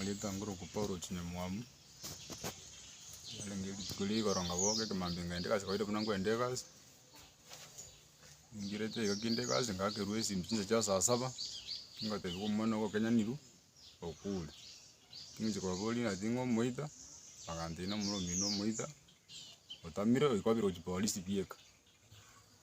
Nagetang'ire okwa Paulo chinyamwamu, yarenge rituko ria igoro ngaboka ekemambia ngenda egasi kawaida buna nkoenda egasi, ningireete iga kinde egasi ngakerwa esimi chinsa chia saa saba, ngotebiwa omwana ogo okenyanirwe okure, ningochia kobaboria ng'ati ng'a omoita, bagantebi nomura omino omoita otamire oikobire gochia polisi bieka.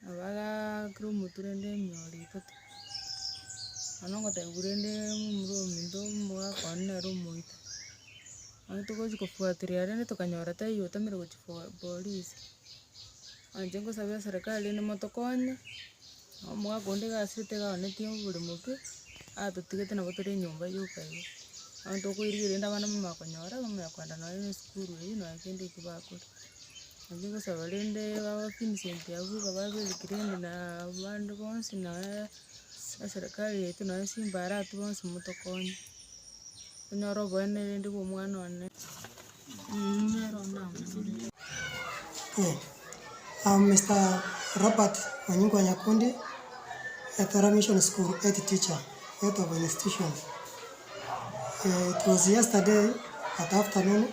Nabo bagakera omotu rende enyore itote, nonya ogotebia korende momura ominto mbwakwane nere omoito. Nabo togochia kofuatiria rende tokanyora taiyo otamire gochia for- polisi. Nache nkosabera serikali rende motokonye, na omogaka onde iga ase tigaonetie oboremo ki, atotigete nabo tore enyomba yoka iga. Bono tokoirigia rende abana mbamanya konyora, bamanya kogenda nonya na esukuru eywo nonya kende ekio bakore. Naria ogosaba rende bagoke emisegi yabo iga babereke rende na abande bonsi nonya na serikali yaito nonya chimbarati bonsi motokonye, tonyore oboene rende bwa omwana one. Am Mister Robert Onyingo Nyakundi, Etora Mission School Head Teacher, Head of Institution. It was yesterday at afternoon.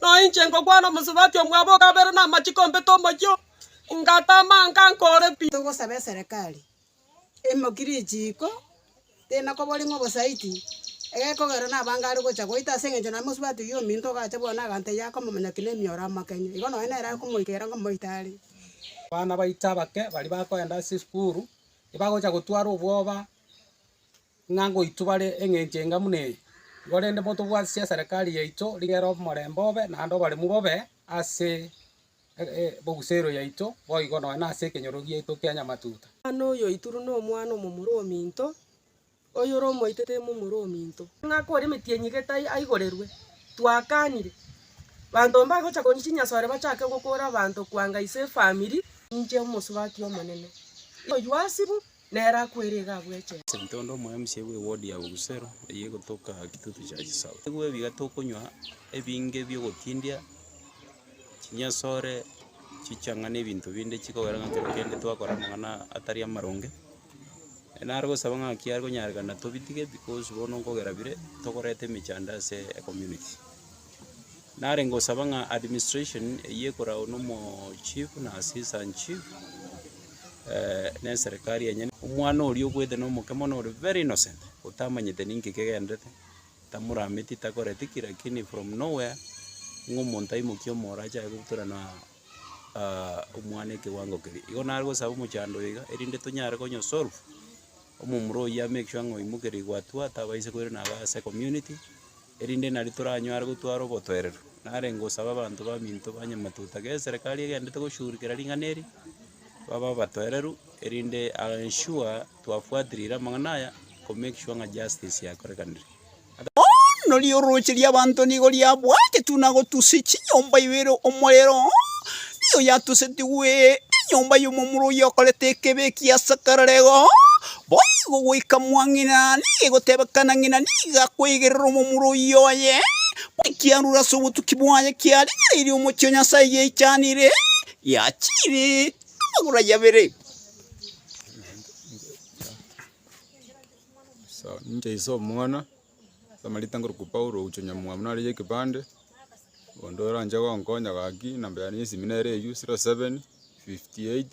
Na inche ngokwana omosubati omwabo o kabere namachiko mbete omochie oo, ngatama anga nkore pi. Togosaba eserekari emokire echiiko, tena koboria ng'a obosaiti egekogera nabo anga are gocha goita ase eng'encho naye mosubati oyio ominto ogacha bwane aganta eyio akomomanya ki nemioro amakeng'e. Igo nonye nere akomoikera ngomoite are. Abana baito abake baria bakoenda ase esukuru, ebagocha gotwara obwoba. ng'a ngoitwa bare engencho enga buna eye, korende botobwate chiaserekari yaito rigere omorembe obe naende oboremu bobe ase ebogusero yaito boigo nonya nase ekenyoro giaito kia nyamatuta. Omwana oyo oituru nomwana omomura ominto, oyore omoite tari momura ominto. Ng'a kore emetienyi enyigete aigorerwe, twakanire. Banto mbagocha konywa chinyasore bachake gokora abanto koanga ise efamiri. Ninche omosubati omonene, oyio asibwe Nere akwere iga abwechete. Sentondo omo mca bwe ward ya Bogusero eye egotoka Kitutu Church South. Igwe biga tokonywa ebinge biogotindia, chinyasore, chichang'a na ebinto binde chikogera ng'a ntobe kende twakora amang'ana atari amaronge. Nare gosaba ng'a kiare konyarekana tobitige because bono nkogera bire tokoreta emechando ase ecommunity. Narenge gosaba ng'a administration eyio ekoragwa nomo chief na assistant chief ne eserekari yenyene. Omwana oria obwete na omoke mono ore very innocent otamanyete ninki kegenderete tamorameti takoreti ki lakini from no where ng'a omonto aimokie omoro achake goturana omwana ekewango keria. Igo nare gosaba omochando oyo iga erinde tonyare konyo solve omomura oyio a make sure ng'a oimokerigwe atua atabaisa koirana aba ase community. erinde nario toranyare gotwara obotoereru. Nare ngosabe abanto baminto ba Nyamatuta, gese eserekari egenderete goshugurikera ring'ana eri, babe abatoereru, erinde I am sure twafuatirire amang'ana aya, ko make sure ng'a justice yakorekanire. Bono ri'orooche ri'abanto nigo riabwateti buna gotusia chinyomba ibere omorero, nigo yatusetigwe enyomba y'omomura oyio okorete ekebeeki ase akarorero. Boigo goika mwang'ina nigo egotebekana ng'ina nigo akoigerera omomura oyio oye, buna ekiarure ase obotuki bwaye kiarigereirie omochie o Nyasae giaichanire, giachiire amagoro ayio abere. Ninche ise omwana ase amarita nkorokwa Paulo ogochia onyamwamu nare y'ekepande, onde oranche gonkonya gaki, enamba yane y'esimi nere eyio, zero seven, fifty eight.